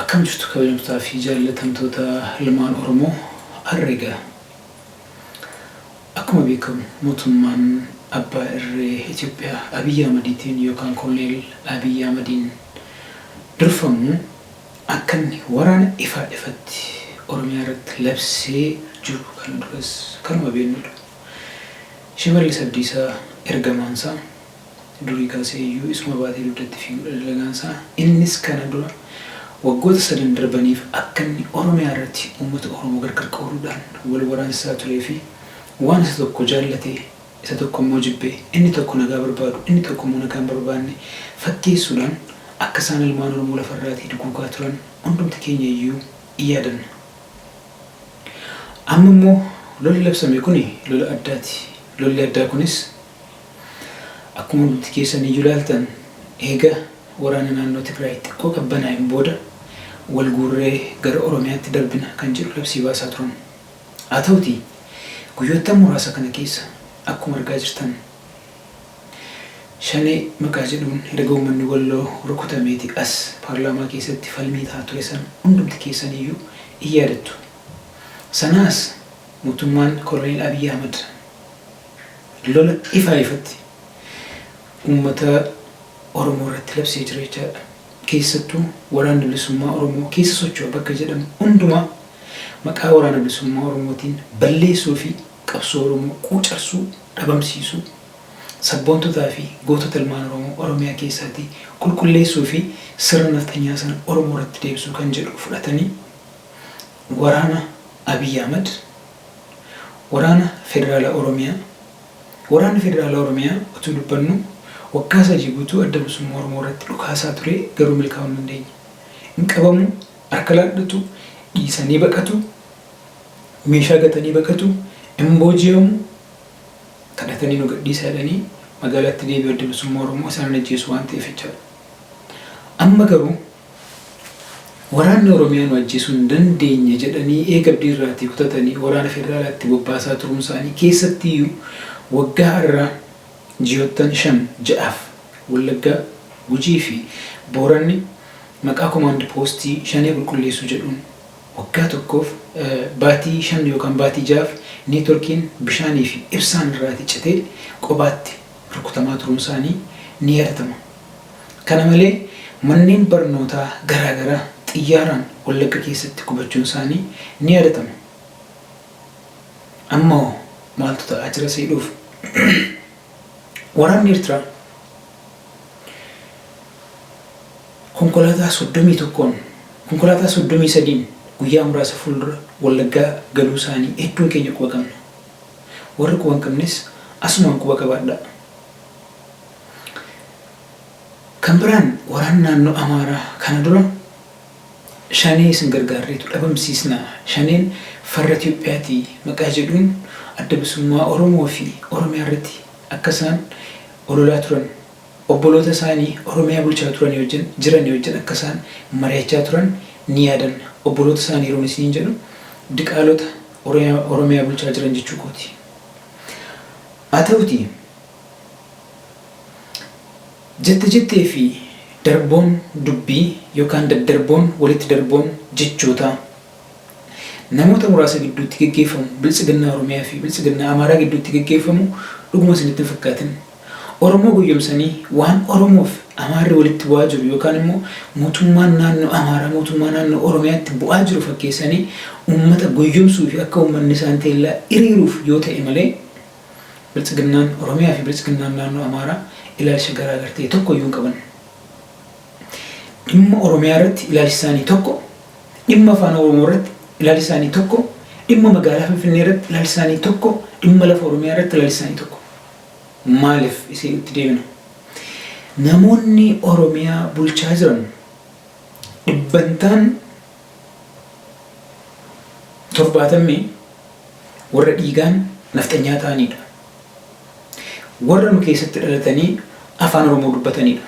Akkam jirtu kabajamtotaa fi jaallatamtoota ilmaan Oromoo har'a egaa akkuma beekamu mootummaan abbaa irree Itoophiyaa Abiy Ahmadiitiin yookaan koloneel Abiy Ahmadiin durfamu akka inni waraana ifaa ifatti Oromiyaa irratti labsee jiru kana duras kanuma beeknudha. Shimallis Abdiisaa ergamaan isaa. Durii kaasee iyyuu isuma baatee dugdatti fiiguudha dalagaan isaa. Innis kana dura waggoota sadan darbaniif akka inni Oromiyaa irratti uummata Oromoo gargar qooduudhaan wal waraansisaa turee fi waan isa tokko jaallatee isa tokko immoo jibbee, inni tokko nagaa barbaadu, inni tokko immoo nagaa hin barbaanne fakkeessuudhaan akka isaan ilmaan Oromoo lafa irraatii duguugaa turan hundumti keenya iyyuu in yaadanna. Amma immoo lolli labsame kuni lola addaati. Lolli addaa kunis Akkuma hundumti keessan iyyuu ilaaltan eega waraana naannoo Tigraay xiqqoo qabbanaa'een booda wal guurree gara Oromiyaatti darbina kan jedhu labsii baasaa turan. Haa ta'utii guyyoottan muraasa kana keessa akkuma argaa jirtan Shanee maqaa jedhuun erga uummanni Walloo rukutameeti as paarlaamaa keessatti falmii ta'aa ture san hundumti keessan iyyuu in yaadattu. Sanaa as mootummaan Koloneel Abiy Ahmad lola ifaa ifatti uummata Oromoo irratti labsee jira jechaadha. Keessattuu Waraanni Bilisummaa Oromoo keessa socho'a bakka jedhamu hundumaa maqaa Waraana Bilisummaa Oromootiin balleessuu fi qabsoo Oromoo quucarsuu, dhabamsiisuu, sabboontotaa fi gootota ilmaan Oromoo Oromiyaa keessaatii qulqulleessuu fi sirna nafxanyaa sana Oromoo irratti deebisuu kan jedhu fudhatanii waraana Abiy Ahmad, Waraana Federaalaa Oromiyaa Waraanni Federaalaa Oromiyaa utuu dubbannuu waggaa sadii guutuu Adda Bilisummaa Oromoo irratti dhukaasaa turee garuu milkaa'uu hin dandeenye. Hin qabamu, harka laadhatu, dhiisanii baqatu, meeshaa gatanii baqatu, hin booji'amu, kadhatanii nu gadhiisaa jedhanii magaalaatti deebi'u Adda Bilisummaa Oromoo isaan hin ajjeesu waan ta'eef jechaadha. Amma garuu. Waraanni Oromiyaa nu ajjeesuu hin dandeenye jedhanii eega abdiirraatii kutatanii waraana federaalaa itti bobbaasaa turuunsaanii keessattiyyuu waggaa arraa ji'oottan shan ja'aaf Wallaggaa, Gujii fi Booranni maqaa komaand poostii Shanee qulqulleessuu jedhuun waggaa tokkoof baatii shan yookaan baatii ja'aaf neetworkiin, bishaanii fi ibsaan irraatii citee qobaatti rukutamaa turuunsaanii ni yaadatama. Kana malee manneen barnootaa garaagaraa xiyyaaraan Wallagga keessatti gubachuunsaanii ni yaadatama. Ammahoo maaltu ta'aa jira isa jedhuuf waraanni Ertiraa konkolaataa 31n konkolaataa 33n guyyaa muraasa fuuldura Wallaggaa galuusaanii hedduun keenya quba qabna. Warri quba hin qabnes asumaan quba qabaadhaa. Kan biraan waraana naannoo Amaaraa kana dura Shanee isin gargaarreetu dhabamsiisna, Shaneen farra Itoophiyaati maqaa jedhuun Adda Bilisummaa Oromoo fi Oromiyaarratti akka isaan ololaa turan, Obboloota isaanii Oromiyaa bulchaa turanii wajjin, jiranii wajjin akka isaan mari'achaa turan ni yaadanna. Obboloota isaanii yeroon isiniin jedhu diqaalota Oromiyaa Oromiyaa bulchaa jiran jechuu kooti. Haa ta'utii jette jettee fi darboon dubbii yookaan daddarboon walitti darboon jechootaa namoota muraasa gidduutti geggeeffamu, Biltsiginnaa Oromiyaa fi Biltsiginnaa Amaaraa gidduutti geggeeffamu dhuguma isinitti hin fakkaatin. Oromoo goyyomsanii waan Oromoof Amaarri walitti bu'aa jiru yookaan immoo mootummaan naannoo Amaaraa mootummaa naannoo Oromiyaatti bu'aa jiru fakkeessanii uummata goyyomsuu fi akka uummanni isaan teellaa iriiruuf yoo ta'e malee Biltsiginnaan Oromiyaa fi Biltsiginnaan naannoo Amaaraa ilaalcha garaa gar ta'e tokko iyyuu hin qaban. Dhimma Oromiyaa irratti ilaalchi isaanii tokko, dhimma Afaan Oromoo irratti ilaalchi isaanii tokko, dhimma magaalaa Finfinnee irratti ilaalchi isaanii tokko, dhimma lafa Oromiyaa irratti ilaalchi isaanii tokko. Maalif isiin itti deemina? Namoonni Oromiyaa bulchaa jiran dhibbantaan 70 warra dhiigaan nafxanyaa ta'aniidha. Warra nu keessatti dhalatanii Afaan Oromoo dubbataniidha.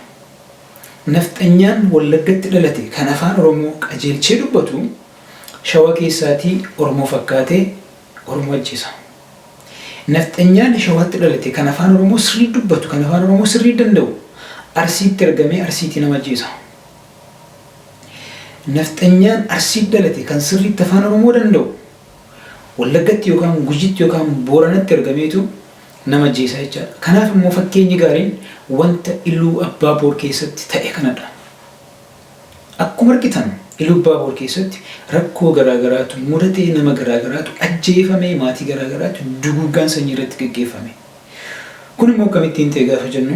Nafxanyaan Wallaggatti dhalate kan Afaan Oromoo qajeelchee dubbatu Shawa keessaatii Oromoo fakkaatee Oromoo ajjeesa. Nafxanyaan Shawatti dhalate kan Afaan Oromoo sirrii dubbatu, kan Afaan Oromoo sirrii danda'u Arsiitti ergamee Arsiitii nama ajjeesa. Nafxanyaan Arsiitti dhalate kan sirriitti Afaan Oromoo danda'u Wallaggatti yookaan Gujitti yookaan Booranatti ergameetu nama ajjeesa jechaadha. Kanaaf immoo fakkeenyi gaariin wanta Iluu Abbaa Boor keessatti ta'e kanadha. Akkuma argitan Iluubbaaboor keessatti rakkoo garaagaraatu mudatee nama garaagaraatu ajjeefamee maatii garaagaraatu duguuggaan sanyii irratti geggeeffame. Kun immoo akkamittiin ta'e gaafa jennu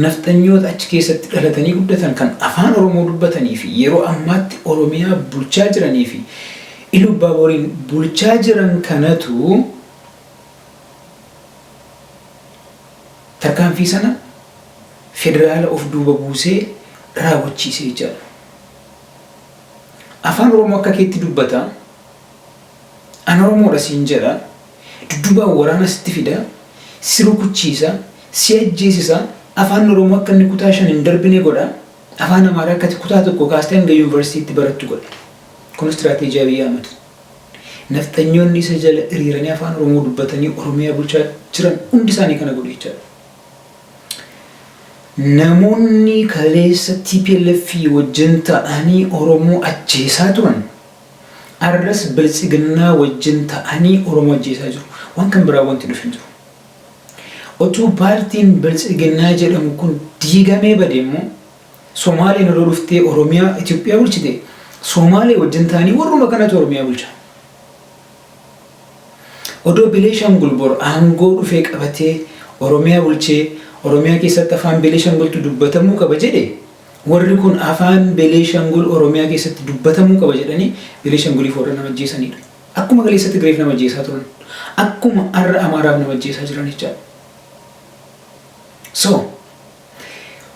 nafxanyoota achi keessatti dhalatanii guddatan kan afaan Oromoo dubbatanii fi yeroo ammaatti Oromiyaa bulchaa jiranii fi Iluubbaabooriin bulchaa jiran kanatu tarkaanfii sana federaala of duuba buusee raawwachiise jechaadha. Afaan Oromoo akka keetti dubbata, an Oromoodha siin jedha, dudduubaan waraana sitti fida, si rukuchiisa, si ajjeesisa, Afaan Oromoo akka inni kutaa shan hin darbine godha, Afaan Amaaraa akka ati kutaa tokkoo kaastee hanga Yuunivarsiitiitti barattu godha. Kun istiraateejii Abiy Ahmad. Nafxanyoonni isa jala hiriiranii Afaan Oromoo dubbatanii Oromiyaa bulchaa jiran hundi isaanii kana godhu jechaadha. Namoonni kaleessa tplf wajjin ta'anii Oromoo ajjeesaa turan arras biltsiginnaa wajjin ta'anii Oromoo ajjeesaa jiru. Waan kan biraa wanti dhufe hin jiru. Otuu paartiin biltsiginnaa jedhamu kun diigamee bade immoo Somaaleen odoo dhuftee Oromiyaa Itoophiyaa bulchite Somaalee wajjin ta'anii warruma kanatu Oromiyaa bulcha. Odoo Beneeshangul bor aangoo dhufee qabatee Oromiyaa bulchee Oromiyaa keessatti afaan Beneeshangultu dubbatamuu qaba jedhe warri kun afaan Beneeshangul Oromiyaa keessatti dubbatamuu qaba jedhanii Beneeshanguliif warra nama ajjeesaniidha. Akkuma kaleessa Tigreef nama ajjeesaa turan akkuma arra Amaaraaf nama ajjeesaa jiran jechaadha. So.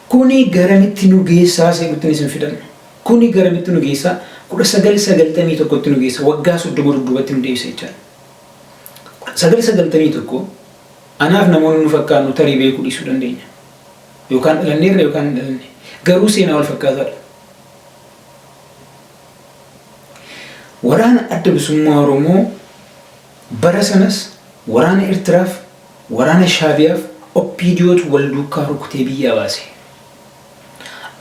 Kuni garamitti nu geessaa see'uttin isin fidan. Kuni garamitti nu geessa 1991tti nu geessa waggaa 30 dudduubatti nu deebisa jechaadha. 1991 anaaf namoonni nu fakkaannu tarii beekuu dhiisuu dandeenya. Yookaan dhalanneerra yookaan hin dhalanne. Garuu seenaa wal fakkaataadha. Waraana adda bilisummaa Oromoo Bara sanas waraana Ertiraaf waraana Shaabiyaaf OPDOtu wal duukkaa rukutee biyyaa baase.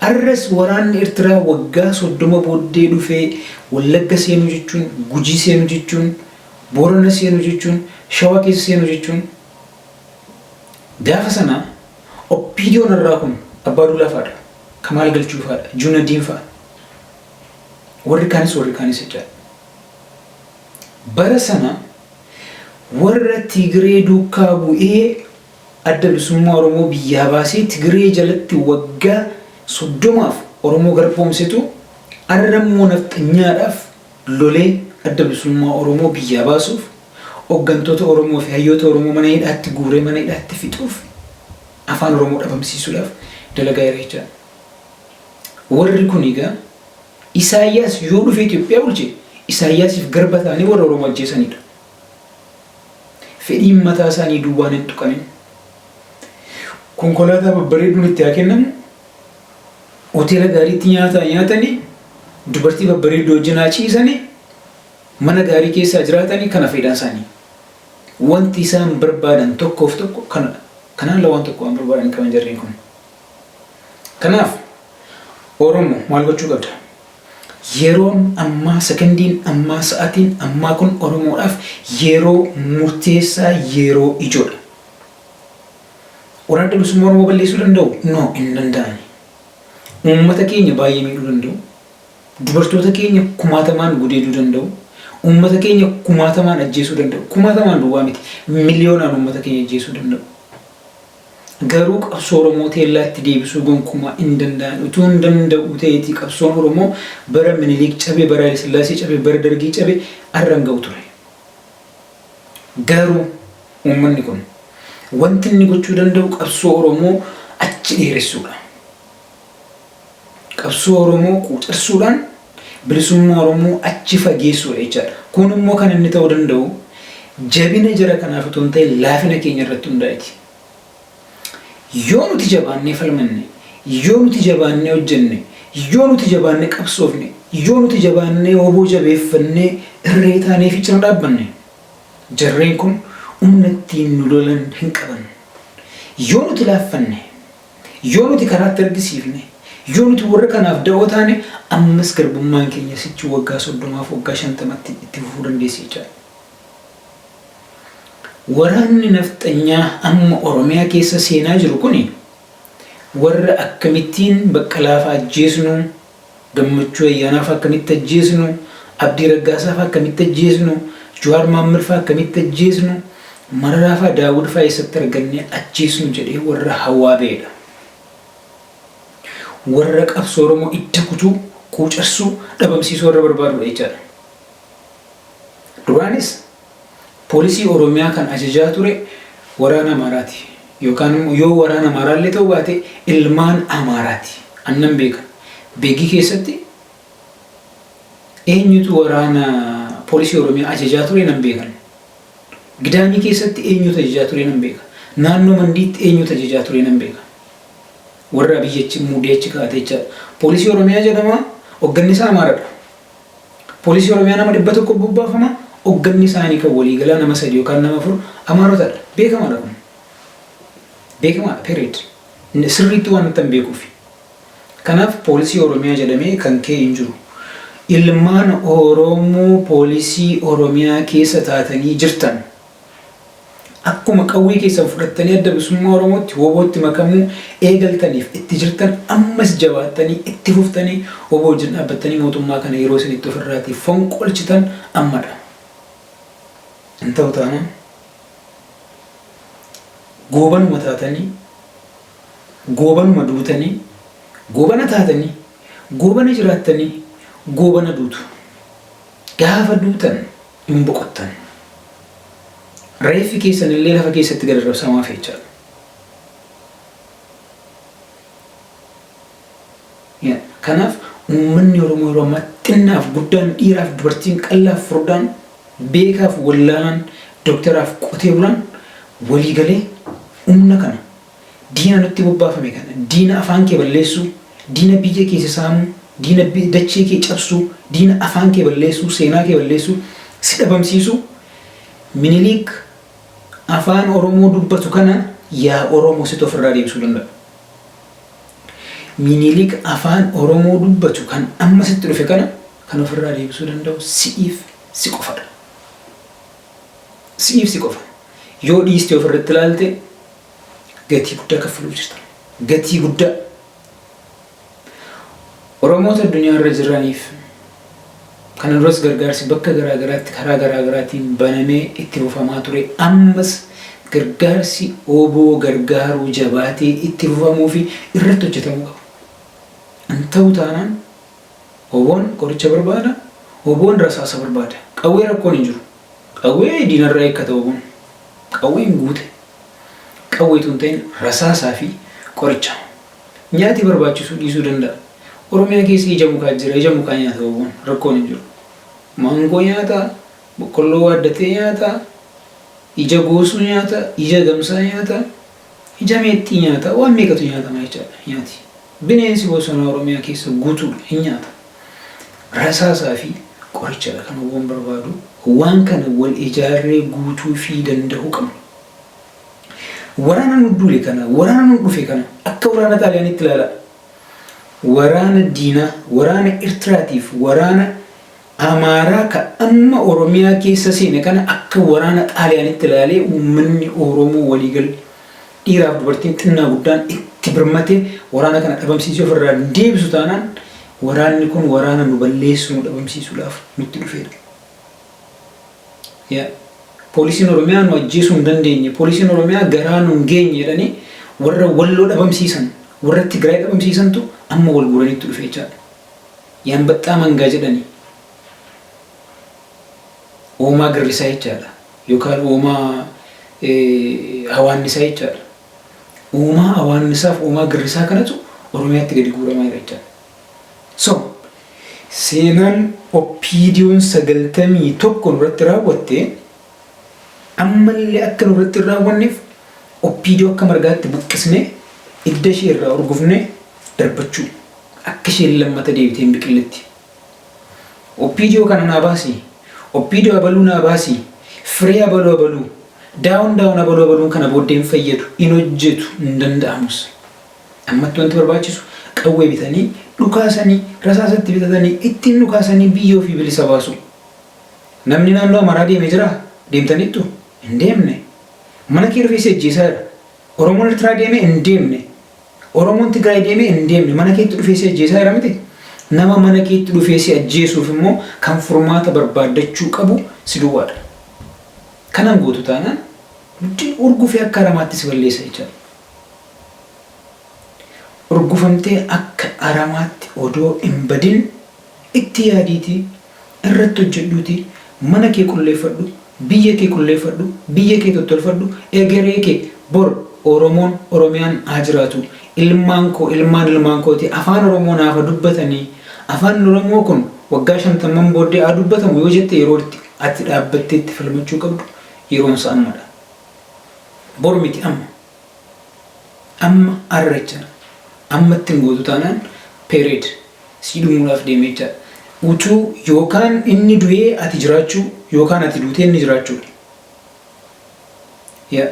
Arras waraanni Ertiraa waggaa 30 booddee dhufee Wallagga seenuu jechuun, Gujii seenuu jechuun, Boorana seenuu jechuun, Shawaa keessa seenuu jechuun gaafa sana OPDOn arraa kun Abbaa Duulaa faadha, Kamaal Galchuu faadha, Juunadiin fa'a. Warri kaanis warri kaanis jechaadha. Bara sana warra Tigree duukkaa bu'ee Adda Bilisummaa Oromoo biyyaa baasee Tigree jalatti waggaa 30f Oromoo garboomsetu arra immoo Nafxanyaadhaaf lolee Adda Bilisummaa Oromoo biyyaa baasuuf oggantoota Oromoo fi hayyoota Oromoo mana hidhaatti guuree mana hidhaatti fixuuf Afaan Oromoo dhabamsiisuudhaaf dalagaa jira jechaadha. Warri kun egaa. Isaayyaas yoo dhufee Itoophiyaa bulche Isaayyaasiif garba ta'anii warra Oromoo ajjeesaniidha. Fedhiin mataa isaanii duwwaan hin tuqamin. Konkolaataa babbareeduun itti haa kennamu, hoteela gaariitti nyaata haa nyaatanii, dubartii babbareedduu wajjin haa ciisanii, mana gaarii keessa haa jiraatanii kana fedhaan isaanii. Wanti isaan barbaadan tokkoof tokko kanadha. Kanaan ala waan tokko waan barbaadan hin qaban jarreen kun. Kanaaf Oromo maal gochuu qabda? Yeroon ammaa, sekondiin ammaa, sa'atiin ammaa kun Oromoodhaaf yeroo murteessaa, yeroo ijoodha. Waraanni bilisummaa Oromoo balleessuu danda'u? No, hin danda'ani. Uummata keenya baay'ee miidhuu danda'u. Dubartoota keenya kumaatamaan gudeeduu danda'u. Uummata keenya kumaatamaan ajjeesuu danda'u. Kumaatamaan duwwaa miti. Miliyoonaan uummata keenya ajjeesuu danda'u. Garuu qabsoo Oromoo teellaatti deebisuu gonkumaa in danda'an. Utuun danda'uu ta'eetii qabsoon Oromoo bara Minilik cabe, bara Hayilasillaasee cabe, bara Dargii cabe arra hin ga'u ture. Garuu uummanni kun wanti inni gochuu danda'u qabsoo Oromoo achi dheeressuudha. Qabsoo Oromoo quucarsuudhaan bilisummaa Oromoo achi fageessuudha jechaadha. Kun immoo kan inni ta'uu danda'u jabina jara kanaaf utuu hin ta'in laafina keenya irratti hundaa'eti. Yoo nuti jabaannee falmanne, yoo nuti jabaannee hojjenne, yoo nuti jabaannee qabsoofne, yoo nuti jabaannee wbo jabeeffannee irree taanee fi cina dhaabbanne jarreen kun humna ittiin nu lolan hin qaban. Yoo nuti laaffanne, Yoo nuti karaatti argisiifne, yoo nuti warra kanaaf da'oo taane, ammas garbummaan keenya sichi waggaa soddomaaf waggaa shantamatti itti fufuu dandeessi jechaadha. Waraanni nafxanyaa amma Oromiyaa keessa seenaa jiru kuni warra akkamittiin Baqqalaafaa ajjeesnu, Gammachuu Ayyaanaa faa akkamitti ajjeesnu, Abdii Raggaasaa faa akkamitti ajjeesnu, Juwaar Maammad faa akkamitti ajjeesnu, Mararaa faa Daawud faa eessatti argannee ajjeesnu jedhee warra hawaa ba'e dha. Warra qabsoo Oromoo idda kutuu, quucarsuu, dhabamsiisuu warra barbaadu dha jechaa dha. Duraanis Poolisii Oromiyaa kan ajajaa ture waraana Amaaraati. Yookaan immoo yoo waraana Amaaraa illee ta'uu baate ilmaan Amaaraati. Ani nan beeka. Begii keessatti eenyutu waraana poolisii Oromiyaa ajajaa ture nan beekan. Gidaamii keessatti eenyutu ajajaa ture nan beeka. Naannoo Mandiitti eenyutu ajajaa ture nan beeka. Warra biyyachi muudee achi kaa'ate jechaadha. Poolisii Oromiyaa jedhama hogganni isaa Amaaradha. Poolisii Oromiyaa nama 100 bobbaafama, ogganni isaanii kan waliigalaa nama 3 yookaan nama 4 Amaarotadha. Beekamaadha kun. Beekamaadha period. Sirriitti waanittan beekuufi. Kanaaf poolisii Oromiyaa jedhamee kan ka'e hin jiru. Ilmaan Oromoo poolisii Oromiyaa keessa taatanii jirtan. Akkuma qawwee keessan fudhattanii Adda Bilisummaa Oromootti, WBOtti makamuu eegaltaniif itti jirtan ammas jabaattanii itti fuftanii wbo wajjin dhaabbattanii mootummaa kana yeroo isin itti ofirraatii fonqolchitan ammadha. Hin ta'u taanaan goobanuma taatanii, goobanuma duutanii, goobana taatanii, goobana jiraattanii, goobana duutu. Gaafa duutan. hin boqottan. Reeffi keessan illee lafa keessatti gad arrabsamaa hafe jechaadha. Yeah. Kanaaf uummanni Oromoo yeroo ammaa xinnaaf guddaan dhiiraaf dubartiin qallaaf furdaan beekaaf wallaalaan doktaraaf qotee bulaan walii galee humna kana Diina nutti bobbaafame kana, diina afaan kee balleessuu, diina biyya kee si saamuu, diina dachee kee cabsuu, diina afaan kee balleessuu, seenaa kee balleessuu, si dhabamsiisuu, Miniliik afaan Oromoo dubbatu kana yaa Oromoo situ ofirraa deebisuu danda'a. Miniliik afaan Oromoo dubbatu kan amma sitti dhufe kana kan ofirraa deebisuu danda'u si'iif si qofadha. Si'iif si qofa. Yoo dhiistee ofirratti ilaalte gatii guddaa kaffaluuf jirtan. Gatii guddaa. Oromoota addunyaa irra jiraniif kana duras gargaarsi bakka garaa garaatti karaa garaa garaatiin banamee itti fufamaa ture. Ammas gargaarsi oboo gargaaruu jabaatee itti fufamuu fi irratti hojjetamuu qaba. Hin ta'u taanaan oboon qoricha barbaada, oboon rasaasa barbaada. Qawwee rakkoon hin jiru. Qawwee diinarraa eeggata wbon. Qawween guute qawwee utuu hin ta'in rasaasaa fi qoricha. Nyaati barbaachisuu dhiisuu danda'a. Oromiyaa keessa ija mukaa jira, ija mukaa nyaata wbon. Rakkoon hin jiru. Maangoo nyaata, boqqolloo waaddatee nyaata, ija goosuu nyaata, ija gamsaa nyaata, ija meexxii nyaata, waan meeqatu nyaatama jechaadha. Nyaati bineensi bosonaa Oromiyaa keessa guutuudha. Hin nyaata. Rasaasaa fi qoricha dha kan wbon barbaadu. Waan kana wal ijaarree guutuu fi dandahuu qabna. Waraana nu duule kana, waraana nu dhufe kana akka waraana Xaaliyaaniitti ilaalaa. Waraana diinaa, waraana Ertiraa tiif waraana Amaaraa ka amma Oromiyaa keessa seene kana akka waraana Xaaliyaaniitti ilaalee uummanni Oromoo waliigalli Dhiiraaf dubartiin xinnaa guddaan itti birmatee waraana kana dhabamsiisee ofirraa hin deebisu taanaan waraanni kun waraana nu balleessu nu dhabamsiisuudhaaf nutti dhufeedha. Yeah. Poolisiin Oromiyaa nu ajjeesuu hin dandeenye, poolisiin Oromiyaa garaa nu hin geenye jedhanii warra Walloo dhabamsiisan, warra Tigraay dhabamsiisantu amma wal guuraniitti dhufe jechaadha. Yaanbaxxaa mangaa jedhanii. uumaa girrisaa jechaadha. Yookaan uumaa hawaannisaa jechaadha. Uumaa hawaannisaaf uumaa girrisaa kanatu Oromiyaatti gadi guuramaa jira jechaadha. So, seenaan oppiidiyoon sagaltamii tokko nurratti raawwatte ammallee akka nurratti hin raawwanneef oppiidiyoo akka margaatti buqqisnee idda ishee irraa urgufnee darbachuu akka isheen lammata deebitee hin biqilletti. Opdo kana naa baasi, opdo abaluu naa baasi, firee abalu abaluu, down down abalu abaluun kana booddee hin fayyadu, hin hojjetu, hin danda'amus. Ammatti wanti barbaachisu qawwee bitanii, dhukaasanii, rasaasa itti bitatanii, ittiin dhukaasanii biyya ofii bilisa baasuu. Namni naannoo Amaraa deeme jiraa? Deemtaniittu? Hin deemne. Mana kee rifeessi ajjeesaa jira. Oromoon Ertiraa deeme hin deemne. Oromoon Tigraay deemee hin deemne mana keetti dhufee si ajjeesaa jira miti? Nama mana keetti dhufee si ajjeesuuf immoo kan furmaata barbaaddachuu qabu si duwwaadha. Kana hin gootu taanaan nutti urgufee akka aramaatti si balleessa jechaadha. Urgufamtee akka aramaatti odoo hin badin Itti yaadiitii irratti hojjedhuutii mana kee qulleeffadhu, biyya kee qulleeffadhu, biyya kee tottolfadhu, egeree kee bor Oromoon, Oromiyaan haa jiraatu, ilmaan koo, ilmaan ilmaan kootii Afaan Oromoo naaf haa dubbatanii, Afaan Oromoo kun waggaa shantamman booddee haa dubbatamu yoo jette yeroo itti ati dhaabbattee itti falmachuu qabdu yeroon isaa ammadha. Bor miti amma. Amma arra jechana. Amma itti hin gootu taanaan period sii dhumuudhaaf deeme jechaadha. Utuu yookaan inni du'ee ati jiraachuu yookaan ati duutee inni jiraachuudha. Yeah.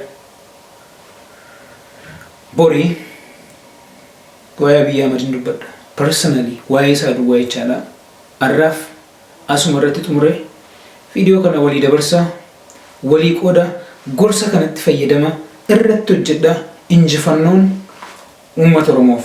Bori waa'ee Abiyyi Ahmad hin dubbadha. Personally waa'ee isaa duwwaa jechaadha. Arraaf Asuma irratti xumure video kana walii dabarsa walii qooda gorsa kanatti fayyadama irratti hojjedha injifannoon uummata oromoof.